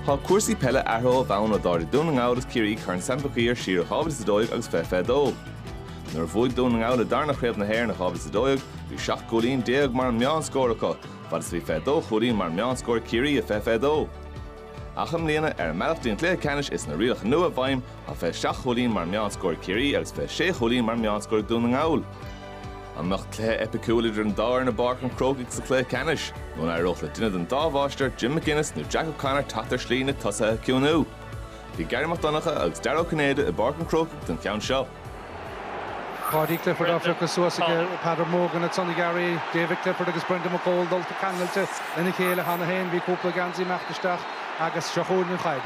Tá cúrsaí peile athraithe ó bhonn ó d'ardaigh Dún na nGall agus Ciarraí Corn Sam Mhic Uidhir siar i 2012 agus 2022. Nuair a bhuaigh Dún na nGall a dtarna chraobh na hÉireann i 2012, bhí 17 gcúilín mar an meánscór acu, fad is a bhí 22 chúilín mar an meánscór ag Ciarraí i 2022. Ach i mbliana, ar an mbealach dtí an cluiche ceannais is na rialacha nua i bhfeidhm, tá 27 chúilín mar an meánscór ag Ciarraí agus 26 chúilín mar an meánscór ag Dún na nGall. An mbeadh cluiche eipiciúil idir an dá fhoireann i bPáirc an Chrócaigh sa chluiche ceannais nó an éireodh le duine den dá mháistir, Jim McGuinness nó Jack O'Connor teacht ar shlí na tosaithe a chiúnú? Bhí Garry Mac Donncha agus Dara Ó Cinnéide i bPáirc an Chrócaigh don cheann seo. Paudie Clifford á phiocadh suas aige Peadar Mogan ansan, a Gharry, David Clifford agus Brendan McCole dulta ceangailte lena chéile cheana féin. Bhí cúpla geansaí ag imeacht isteach agus seo chugainn an chaid.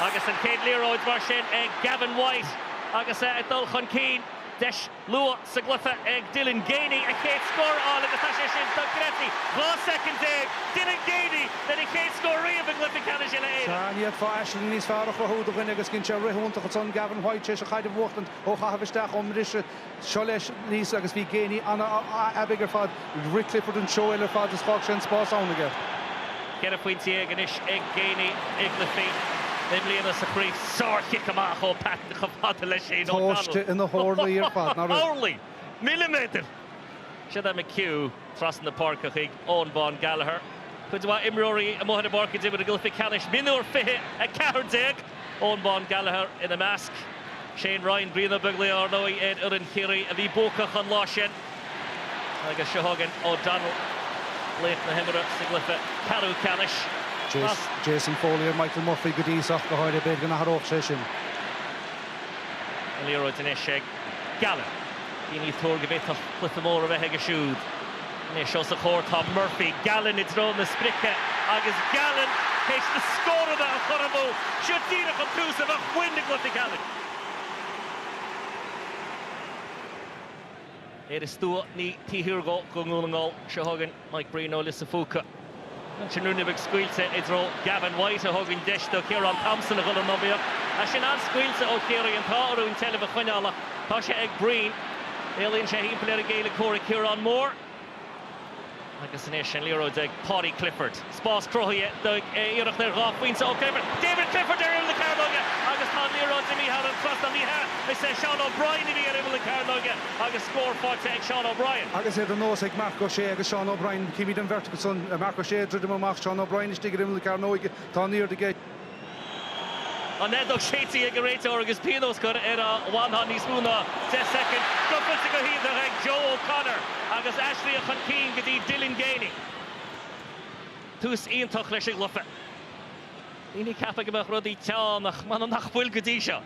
Agus an chéad liathróid mar sin ag Gavin White. Agus é ag dul chun cinn, deis luath sa gcluiche ag Dylan Geaney a chéad scór a fháil agus tá sé sin tugtha i gcrích aige. 12 soicind, Dylan Geaney lena chéad scór riamh i gcluiche ceannais Uile-Éireann. Ní fhéadfá aisling níos fearr a chruthú do dhuine agus dhein sé rith iontach ansan Gavin White tar éis a chaid a bhuachtaint ó chaitheamh isteach ón mbriseadh. Seo leis aníos agus bhí Geaney an-aibigh ar fad. Rith Clifford an treo eile ar fad is d'fhág sé an spás ann aige. Ceithre phointe dhéag anois ag Geaney i gcluichí i mbliana sa chraobh. Sár-chic amach ó Patton chomh fada le Shane O'Donnell. Tomhaiste ina horlaí ar fad, nach raibh? Horlaí! Milliméadair! Siúd é McHugh trasna na páirce chuig Eoghan Bán Gallagher. Cuid mhaith imreoirí amuigh ar an bpáirc ag imirt i gcluiche ceannais mionúir 2014, Eoghan Bán Gallagher ina measc. Shane Ryan, Brian Ó Beaglaoich ar ndóigh ar fhoireann Chiarraí a bhí buacach an lá sin agus seo chugainn O'Donnell, laoch na himeartha sa gcluiche ceathrú ceannais. Jason Foley ar Michael Murphy go dtí seo, ach go háirithe. B'fhéidir go n-athródh sé sin. An liathróid anois ag Gallen. Daoine ag tuar go bhféadfadh cluiche mór a bheith aige siúd. Anois os a chomhair tá Murphy. Gallen i dtreo na sprice agus Gallen théis na scóranna a chothromú! Seo díreach an tús a bheadh uainn sa gcluiche. Gallen. Éire Stua 9 Tír Oírgo do Dhún na nGall. Seo chugainn. Mike Breen ó Lios an Phúca. Sin ruainne beag scaoilte i dtreo Gavin White a thug an deis do Chiarán Thompson a dhul in iomaíocht. Ach sin an-scaoilte ó Chiarraí an t-ádh orthu an tseilbh a choinneáil ach tá sé ag Breen. Éalaíonn sé thimpeall ar an gcéile comhraic Ciarán Moore agus anois an liathróid ag Paudie Clifford. Spás cruthaithe ag iarracht ar dhá phointe ó Clifford. David Clifford ar imeall na cearnóige agus tá an liathróid imithe thar an trasnán. Ní hea, is é Seán O'Brien a bhí ar imeall na cearnóige agus scór faighte ag Seán O'Brien. Agus é de nós ag Marc Ó Sé agus Seán O'Brien, címid an bheirt acu san, Marc Ó Sé ag druidim amach, Seán O'Brien istigh ar imeall na cearnóige, tá an airde aige. An fheadóg séidte ag an réiteoir agus pionós cur air a bhainfeadh níos mó ná deich soicind. Scoth fillte go hiontach ag Joe O'Connor agus aistrithe chun cinn go dtí Dylan Geaney. Tús iontach leis an gcluiche. Daoine ag ceapadh go mbeadh rudaí teann ach m'anam nach bhfuil go dtí seo.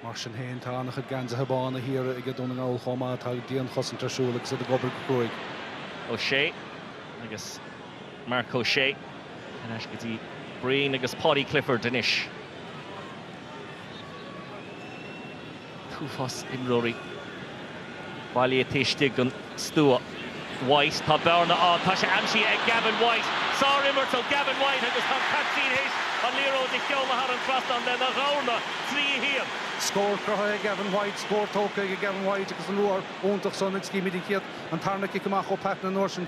Mar sin féin, tá an-chuid geansaithe bána thiar ag Dún na nGall chomh maith. Tá dianchosaint ar siúl agus iad ag obair go cruaidh. O'Shea agus Marc Ó Sé ar ais go dtí Breen agus Paudie Clifford anois. t-uafás imreoirí bailithe taobh istigh den stua. White, tá bearna ann, tá sé aimsithe ag Gavin White! Sár-imirt ó Gavin White agus tá an caiptín théis an liathróid a sheoladh thar an trasnán lena dhorn, 3, 1. Scór cruthaithe ag Gavin White, scór tógtha ag Gavin White agus an ruathar iontach san agus címid an chéad, an tarna cic amach ó Patton an uair sin.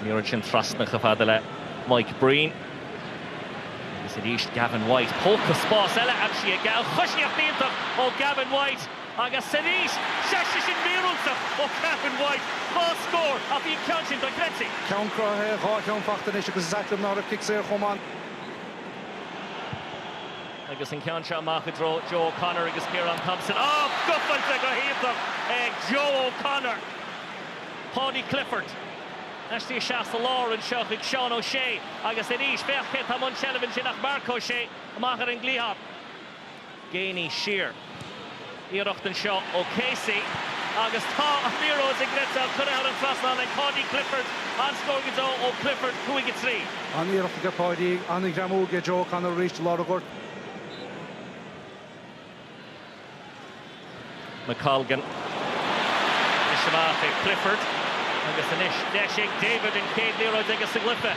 An liathróid sin trasna chomh fada le Mike Breen. Agus arís Gavin White. Póca spáis eile aimsithe aige. An choisíocht iontach ó Gavin White agus arís tá sé sin míorúilteach ó Gavin White. Dhá scór ach bhí an ceann sin dochreidte. Ceann cruthaithe, dhá cheann faighte anois agus is ait liom nach raibh cic saor chomh maith. Agus an ceann seo amach i dtreo Joe O'Connor agus Ciarán Thompson. Á! Scuabfailte go hiontach ag Joe O'Connor. Paudie Clifford aistrithe isteach sa lár anseo chuig Seán O'Shea agus arís féach cé atá i mbun seilbh ansin ach Marc Ó Sé amach ar an gcliathán. Geaney siar. iarracht anseo ó Casey agus tá an liathróid go gleoite curtha thar an trasnán ag Paudie Clifford. An-scór go deo ó Clifford, 5 3. An-iarracht aige Paudie, an-ghreamú aige Joe O'Connor arís i lár an ghoirt. McColgan anois amach ag Clifford agus anois deis ag David, an chéad liathróid aige sa gcluiche.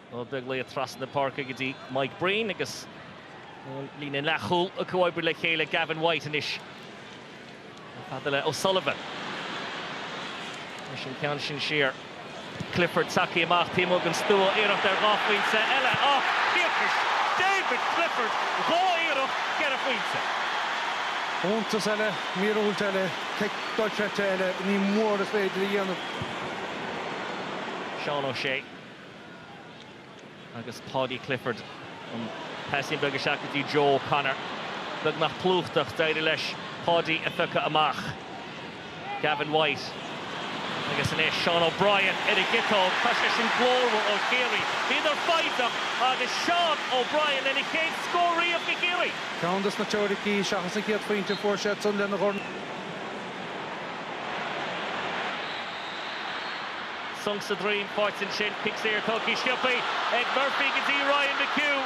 Ó Beaglaoich trasna na páirce go dtí Mike Breen agus an líne leathchúil ag comhoibriú le chéile, Gavin White anois chomh fada le O'Sullivan. Anois an ceann sin siar. Clifford tagtha amach taobh amuigh den stua, iarracht ar dhá phointe eile a thiarcais David Clifford, dhá iarracht, ceithre phointe. Iontas eile, míorúilt eile, cic dochreidte eile, ní mór is féidir a dhéanamh. Seán O'Shea. Agus Paudie Clifford, an paisín beag isteach go dtí Joe O'Connor. Beagnach plúchta, d'éirigh leis Paudie a phiocadh amach. Gavin White. Agus anois Seán O'Brien ar an gciotóg. Tá sé sin glórmhar ó Chiarraí. Bhíodar foighneach agus Seán O'Brien lena chéad scór riamh do Chiarraí! Ceann de na teoiricí, seachas an chéad phointe a fuair siadsan lena dhorn. Sonc sa droim, faighte ansin, cic saor, tógtha sciobtha ag Murphy go dtí Ryan McHugh.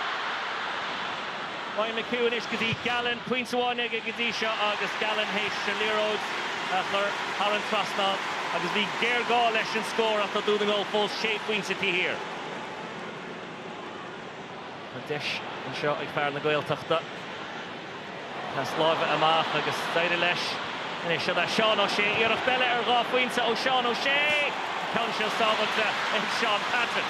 Ryan McHugh anois go dtí Gallen, pointe amháin aige go dtí seo agus Gallen théis an liathróid a chur thar an trasnán agus bhí géarghá leis an scór ach tá Dún na nGall fós sé phointe taobh thiar. Tá deis anseo ag fear na Gaeltachta. Pas láimhe amach agus d'éirigh leis. Anois seo Seán O'Shea? Iarracht eile ar dhá phointe ó Sheán O'Shea! An ceann seo sábháilte ag Shaun Patton.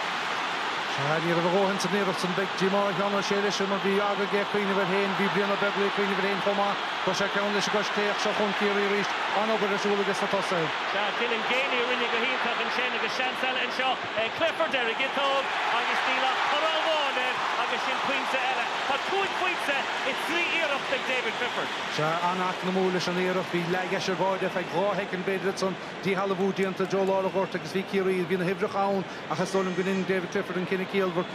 Sea, ní raibh a dhóthain san iarracht san. Beidh díomá ar Sheán O'Shea leis sin mar bhí aga aige cuimhneamh air féin. Bhí Brian Ó Beaglaoich ag cuimhneamh air féin chomh maith. Chuir sé ceann leis go Stiofán ach seo chugainn Ciarraí arís. An-obair ar siúl acu sna tosaithe. Sea, Dylan Geaney a rinne go hiontach ansin agus seans eile anseo. Clifford ar an gciotóg agus níl ach toradh amháin air agus sin pointe eile. Tá cúig phointe as trí iarracht ag David Clifford. Sea, an-eacnamúil leis an iarracht. Bhí leaid as báire ar feadh dhá shoicind, b'fhéidir, ansan díshealbhú déanta, Joe i lár an ghoirt agus bhí Ciarraí, bhí na huimhreacha ann ach is dóigh liom gur dhein David Clifford an cinneadh ciallmhar.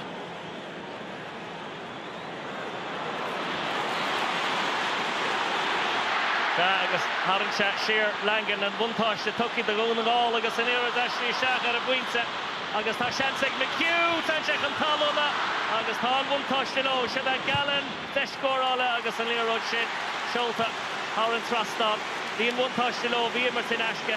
Sea, agus tharraing sé siar Langan, an buntáiste tugtha do Dhún na nGall agus an liathróid istigh isteach ar an bpointe agus tá seans ag McHugh, téann sé chun talún agus tá an bhuntáiste leo. Siúd é Gallen, deis scórála agus an liathróid sin seolta thar an trasnán. Bhí an bhuntáiste leo, bhí imirt in aisce.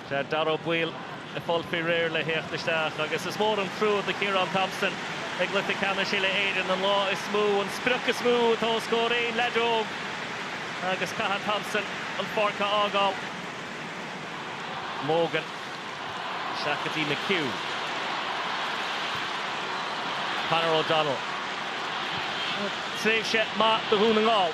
Tá Dáire Ó Baoill ag fáil faoi réir le theacht isteach agus is mór an trua do Chiarán Thompson ag cluiche ceannais Uile-Éireann an lá is mó an sprioc is mó atá os comhair aon leaid óg agus caithfidh Thompson an pháirc a fhágáil. Morgan isteach go dtí McHugh. Conor O'Donnell. Tréimhse mhaith do Dhún na nGall.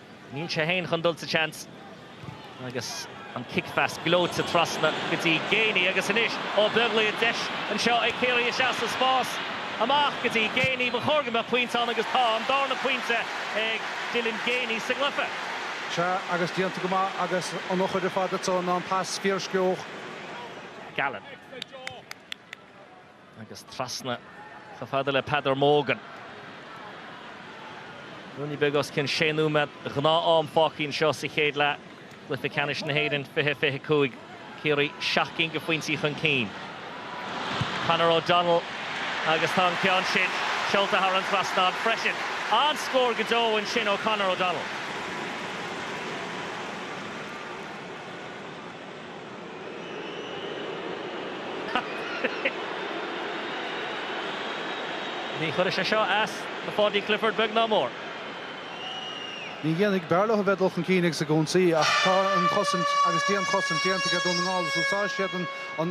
Níl sé fhéin chun dul sa tseans agus an cicphas gleoite trasna go dtí Geaney agus anois Ó Beaglaoich, deis anseo ag Ciarraí isteach sa spás, amach go dtí Geaney, ba chóir go mbeadh pointe ann agus tá an darna pointe ag Dylan Geaney sa gcluiche. Sea agus déanta go maith agus an eochair ar fad atá ann ná an pas fíorsciobtha. Gallen. agus trasna chomh fada le Peadar Mogan. Ruainne beag os cionn sé nóiméad gnáth-am fágtha anseo sa chéad leath de Chluiche Ceannais na hÉireann, 20, 25, Ciarraí seacht gcinn de phointí chun cinn. Conor O'Donnell agus tá an ceann sin seolta thar an trasnán freisin. An-scór go deo ansin ó Conor O'Donnell. Ní chuirfidh sé seo as do Pháidí Clifford beag ná mór. Ní dhéanfaidh. B'fhearr leo a bheith ag dul chun cinn agus ag ionsaí ach tá an chosaint agus dianchosaint déanta aige Dún na nGall agus úsáidfidh siad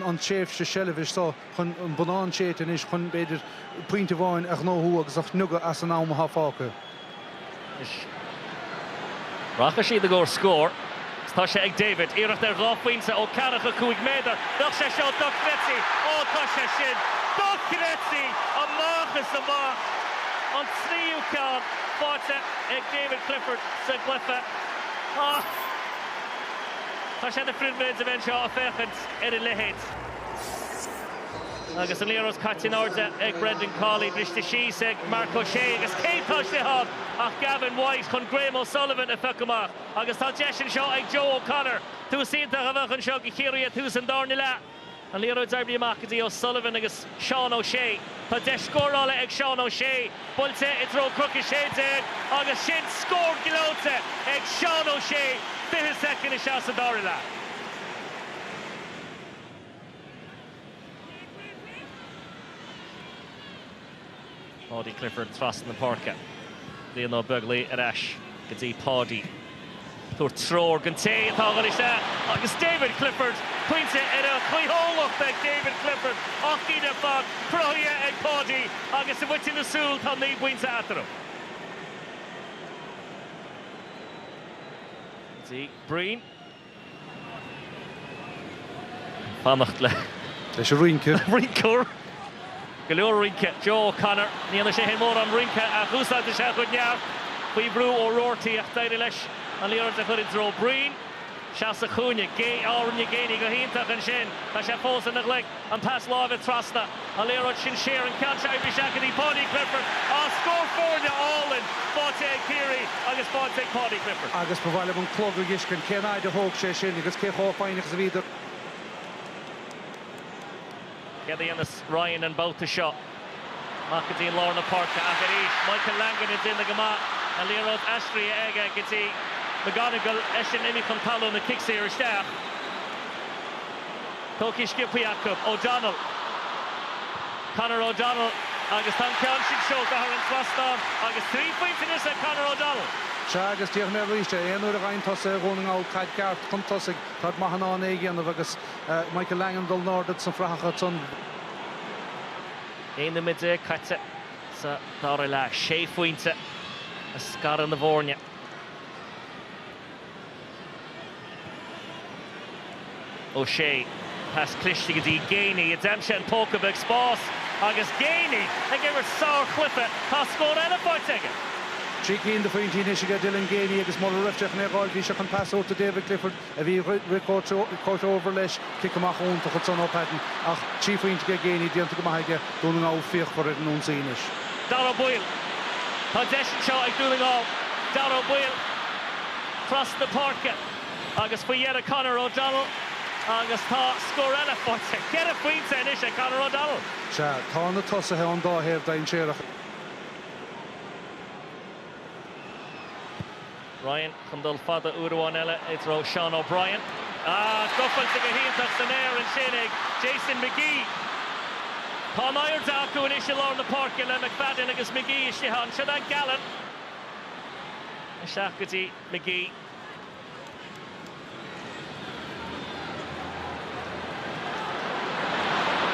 an tréimhse seilbhe seo. chun an bonnán séidte anois, chun, b'fhéidir, pointe amháin a ghnóthú agus a shniogadh as an am atá fágtha. Rachaidh siad i gcomhair scóir agus tá sé ag David. Iarracht ar dhá phointe ó ceathracha cúig méadar, bheadh sé seo dochreidte! Ó tá sé sin dochreidte! Amach is amach! An tríú ceann faighte ag David Clifford sa gcluiche ach tá sé de phribhléid a bheith anseo ag féachaint ar a leithéid. Agus an liathróid caite in airde ag Brendan Cawley, briste síos ag Mark O'Shea agus cé atá istigh ann ach Gavin White chun Graham O'Sullivan a phioc amach agus tá deis anseo ag Joe O'Connor. Tús iontach a bheadh anseo do Chiarraí ag tús an darna leath. An liathróid oibrithe amach go dtí O'Sullivan agus Seán Ó Sé. Tá deis scórála ag Seán Ó Sé, buailte i dtreo Cnoc 16 agus sin scór gleoite ag Seán Ó Sé 20 soicind isteach sa dara leath. Paudie Clifford trasna na páirce. Brian Ó Beaglaoich ar ais go dtí Paudie. Ag tabhairt treoir don té atá ag dul isteach agus David Clifford, pointe ar a chaoithiúlacht ag David Clifford. Ocht gcinn ar fad cruthaithe ag Paudie agus i bhfaiteadh na súl tá naoi bpointe eatarthu. Go dtí Breen. fanacht le. leis an rince. rinceoir! Go leor rince! Joe O'Connor, ní dhéanann sé féin mórán rince ach úsáideann sé a chuid neart. Faoi bhrú ó Roarty ach d'éirigh leis an liathróid a chur i dtreo Breen. Isteach sa chúinne. Gay, á, rinne Geaney go hiontach ansin. Tá sé fós ina ghlaic. An pas láimhe trasna, an liathróid san aer, an ceann seo oibrithe isteach go dtí Paudie Clifford. Á, scór foirne álainn faighte ag Ciarraí agus faighte ag Paudie Clifford. Agus ba mhaith liom an clog a dh'fheiscint, cén fhaid a thóg sé sin agus cé chomh foighneach is a bhíodar. Céard a dhéanfas Ryan an babhta seo? Amach go dtí lár na páirce ach arís Michael Langan ag déanamh go maith, an liathróid aistrithe aige go dtí McGonagle, eisean imithe chun talún, an cic saor isteach. Tógtha sciobthaí acu. O'Donnell. Conor O'Donnell agus tá an ceann sin seolta thar an trasnán agus trí phointe anois ag Conor O'Donnell. Sea, agus déarfaidh mé arís é, aon uair a bhfaigheann tosaithe Dhún na nGall caid ceart chun tosaigh, táid go maith in ann é a dhéanamh agus Michael Langan ag dul in airde sna frathacha. Naoi nóiméad déag caite sa dara leath, sé phointe a scarann na foirne. Ó Sé, pas cliste go dtí Geaney, a d'aimsigh an póca beag spáis agus Geaney ag imirt sárchluiche, tá scór eile faighte aige! Trí cinn de phointí anois aige Dylan Geaney agus mura raibh sé chun é a ghabháil bhí sé chun pas a thabhairt do David Clifford. a bhí ag rith comhthreomhar leis, cic amach iontach ansan ó Patton ach trí phointe ag Geaney déanta go maith aige, Dún na nGall fíochmhar ar an ionsaí anois. Dáire Ó Baoill, Tá deis anseo ag Dún na nGall, Dáire Ó Baoill trasna páirce agus faoi dheireadh Conor O'Donnell agus tá scór eile faighte, ceithre phointe anois ag Conor O'Donnell! Sea, tá na tosaithe ón dá thaobh dainséarach. Ryan chun dul fada uair amháin eile i dtreo Seán O'Brien. Ach gabháilte go hiontach san aer ansin ag Jason McGee. Tá an airde acu anois i lár na páirce le McFadden agus McGee istigh ann. Seo é Gallen. Isteach go dtí McGee.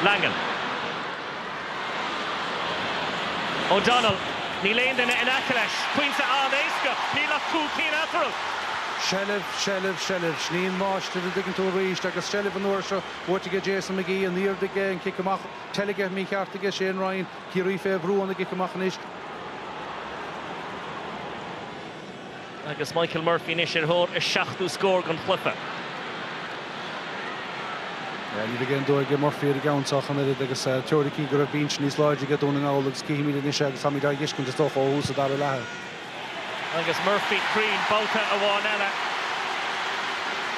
Langan. O'Donnell, níl aon duine in aice leis. Pointe an-éasca, níl ach cúig cinn eatarthu. Seilbh, seilbh, seilbh. Sin í an máistir, an dtuigeann tú, arís. Agus seilbh an uair seo buaite aige Jason McGee. An airde aige, an cic amach teilgthe mícheart aige Shane Ryan. Ciarraí fé bhrú óna gcic amach anois. Agus Michael Murphy anois ar thóir a seachtú scór den chluiche. Ní bheidh aon dua ag Murphy ar an gceann seo ach an oiread agus teoiricí go raibh binse níos láidre aige Dún na nGall agus címid anois é agus táimid á fheiscint, is dócha, ó thús an dara leatha. Agus Murphy cruinn babhta amháin eile.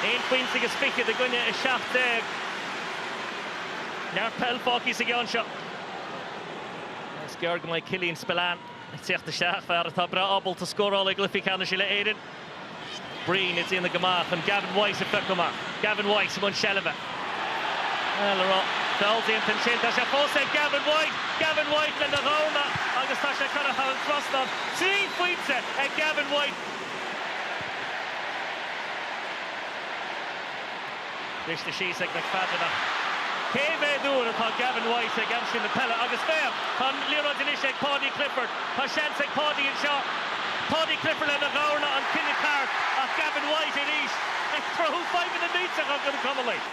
Aon phointe agus fichead i gcoinne a seacht déag. Neart peil fágtha sa gceann seo. Is gearr go mbeidh Killian Spillane Ag teacht isteach, fear atá breá ábalta scóráil i gCluichí Ceannais Uile-Éireann. Breen ag déanamh go maith chun Gavin White a phiocadh amach. Gavin White i mbun seilbhe. Le feall déanta ansin, tá sé fós ag Gavin White! Gavin White lena dhorn agus tá sé curtha thar an trasnán. Trí phointe ag Gavin White! Briste síos aige Mac Feadarnach. Cé mhéad uair atá Gavin White ag aimsiú na peile agus féach, tá an liathróid anois ag Paudie Clifford. Tá seans ag Paudie anseo. Paudie Clifford lena ghamharana, an cinneadh ceart ach Gavin White arís ag cruthú fadhbanna millteacha do na Conallaigh.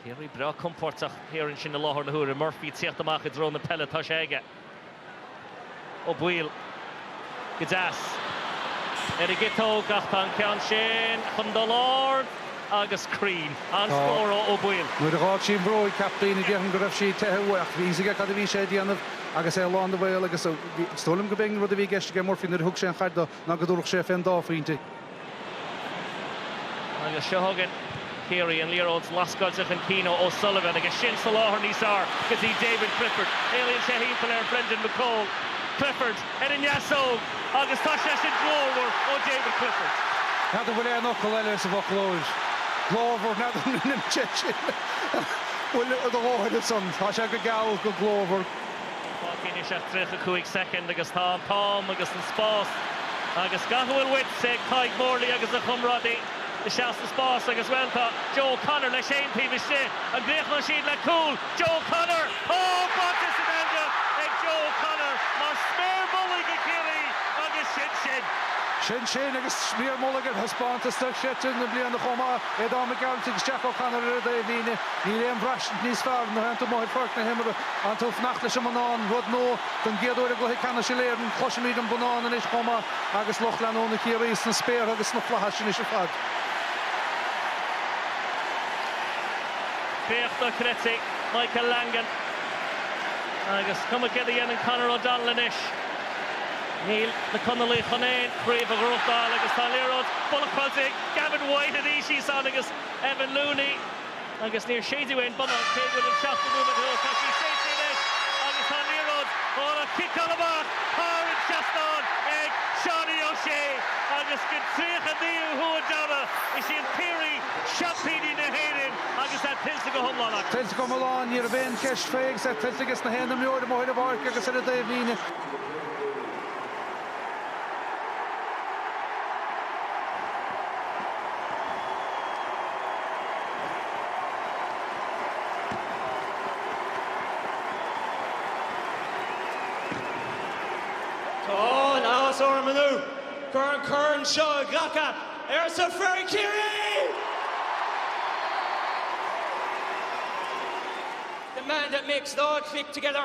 Ciarraí breá compóirteach thiar ansin i láthair na huaire. Murphy ag tíocht amach i dtreo na peile, tá sé aige. Ó Baoill, go deas, ar an gciotóg ach tá an ceann sin chun dul ard agus cruinn. An-scór ó Ó Baoill. Nuair a dh'fhág sí an bhróg a chaptaein déarfainn go raibh sí ag teitheadh uaidh ach bhí fhios aige cad a bhí sé a dhéanamh agus é lán de bhrí agus is dóigh liom go b'é an rud a bhí i gceist ag Murphy nuair a thug sé an chaid do ná go dtabharfadh sé fén dá phointe. Agus seo againn Ciarraí, an liathróid lasctha chun cinn ó O'Sullivan, agus sin soláthar níos fearr go dtí David Clifford. Éalaíonn sé timpeall ar Brendan McCole. Clifford ar an ndeasóg agus tá sé sin glórmhar ó David Clifford. N'fheadar bhfuil aon fhocal eile sa bhfoclóir. Glórmhar, n'fheadar an roinnim sé sin. Bhuel, tá do dhóthain ansan. Tá sé go geal, go glórmhar. Níl fágtha anois ach 35 soicind agus tá an t-am agus an spás agus gach a bhfuil uait ag Tadhg Morley agus a chomrádaí isteach sa spás agus, bhuel, tá Joe O'Connor leis féin taobh istigh. An gcríochnóidh siad le cúl Joe O'Connor? Tá! Sáite san eangach ag Joe O'Connor mar sméar mullaigh do Chiarraí agus sin sin. Sin sin agus sméar mullaigh ar thaispeántas dochreidte na bliana chomh maith, Aodán Mac Gearailt agus Jack O'Connor ar an dtaobhlíne. Níl aon bhraistint níos fearr ná an ceann atá amuigh ar pháirc na himeartha. Ansiúd ag fanacht leis an mbonnán, rud nua don gcéad uair i gcluiche ceannais na hÉireann, cloisimid an bonnán anois chomh maith agus lucht leanúna Chiarraí sna spéartha agus sna flaithis anois ar fad. Féach dochreidte, Michael Langan. Agus cuma céard a dhéanann Conor O'Donnell anois, níl na Conallaigh chun aon chraobh a ghnóthachtáil agus tá liathróid buaite ag Gavin White arís thíos ansan agus Evan Looney. agus níor séideadh aon bhonnán cé go bhfuil an seachtó nóiméad istigh tá sé séidte anois agus tá an liathróid thall á ciceáil amach thar an seastán ag Seánie O'Shea agus den tríocha naoú huair deireadh is iad Ciarraí seaimpíní na hÉireann agus é tuillte go hiomlán acu. Tuillte go hiomlán? Ní raibh aon cheist faoi agus é tuillte ages na haon imreoir amuigh ar an bpáirc agus ar an dtaobhlíne. Tá an-áthas orm inniu an corn seo a ghlacadh, ar son fir Chiarraí! The man that makes it all click together.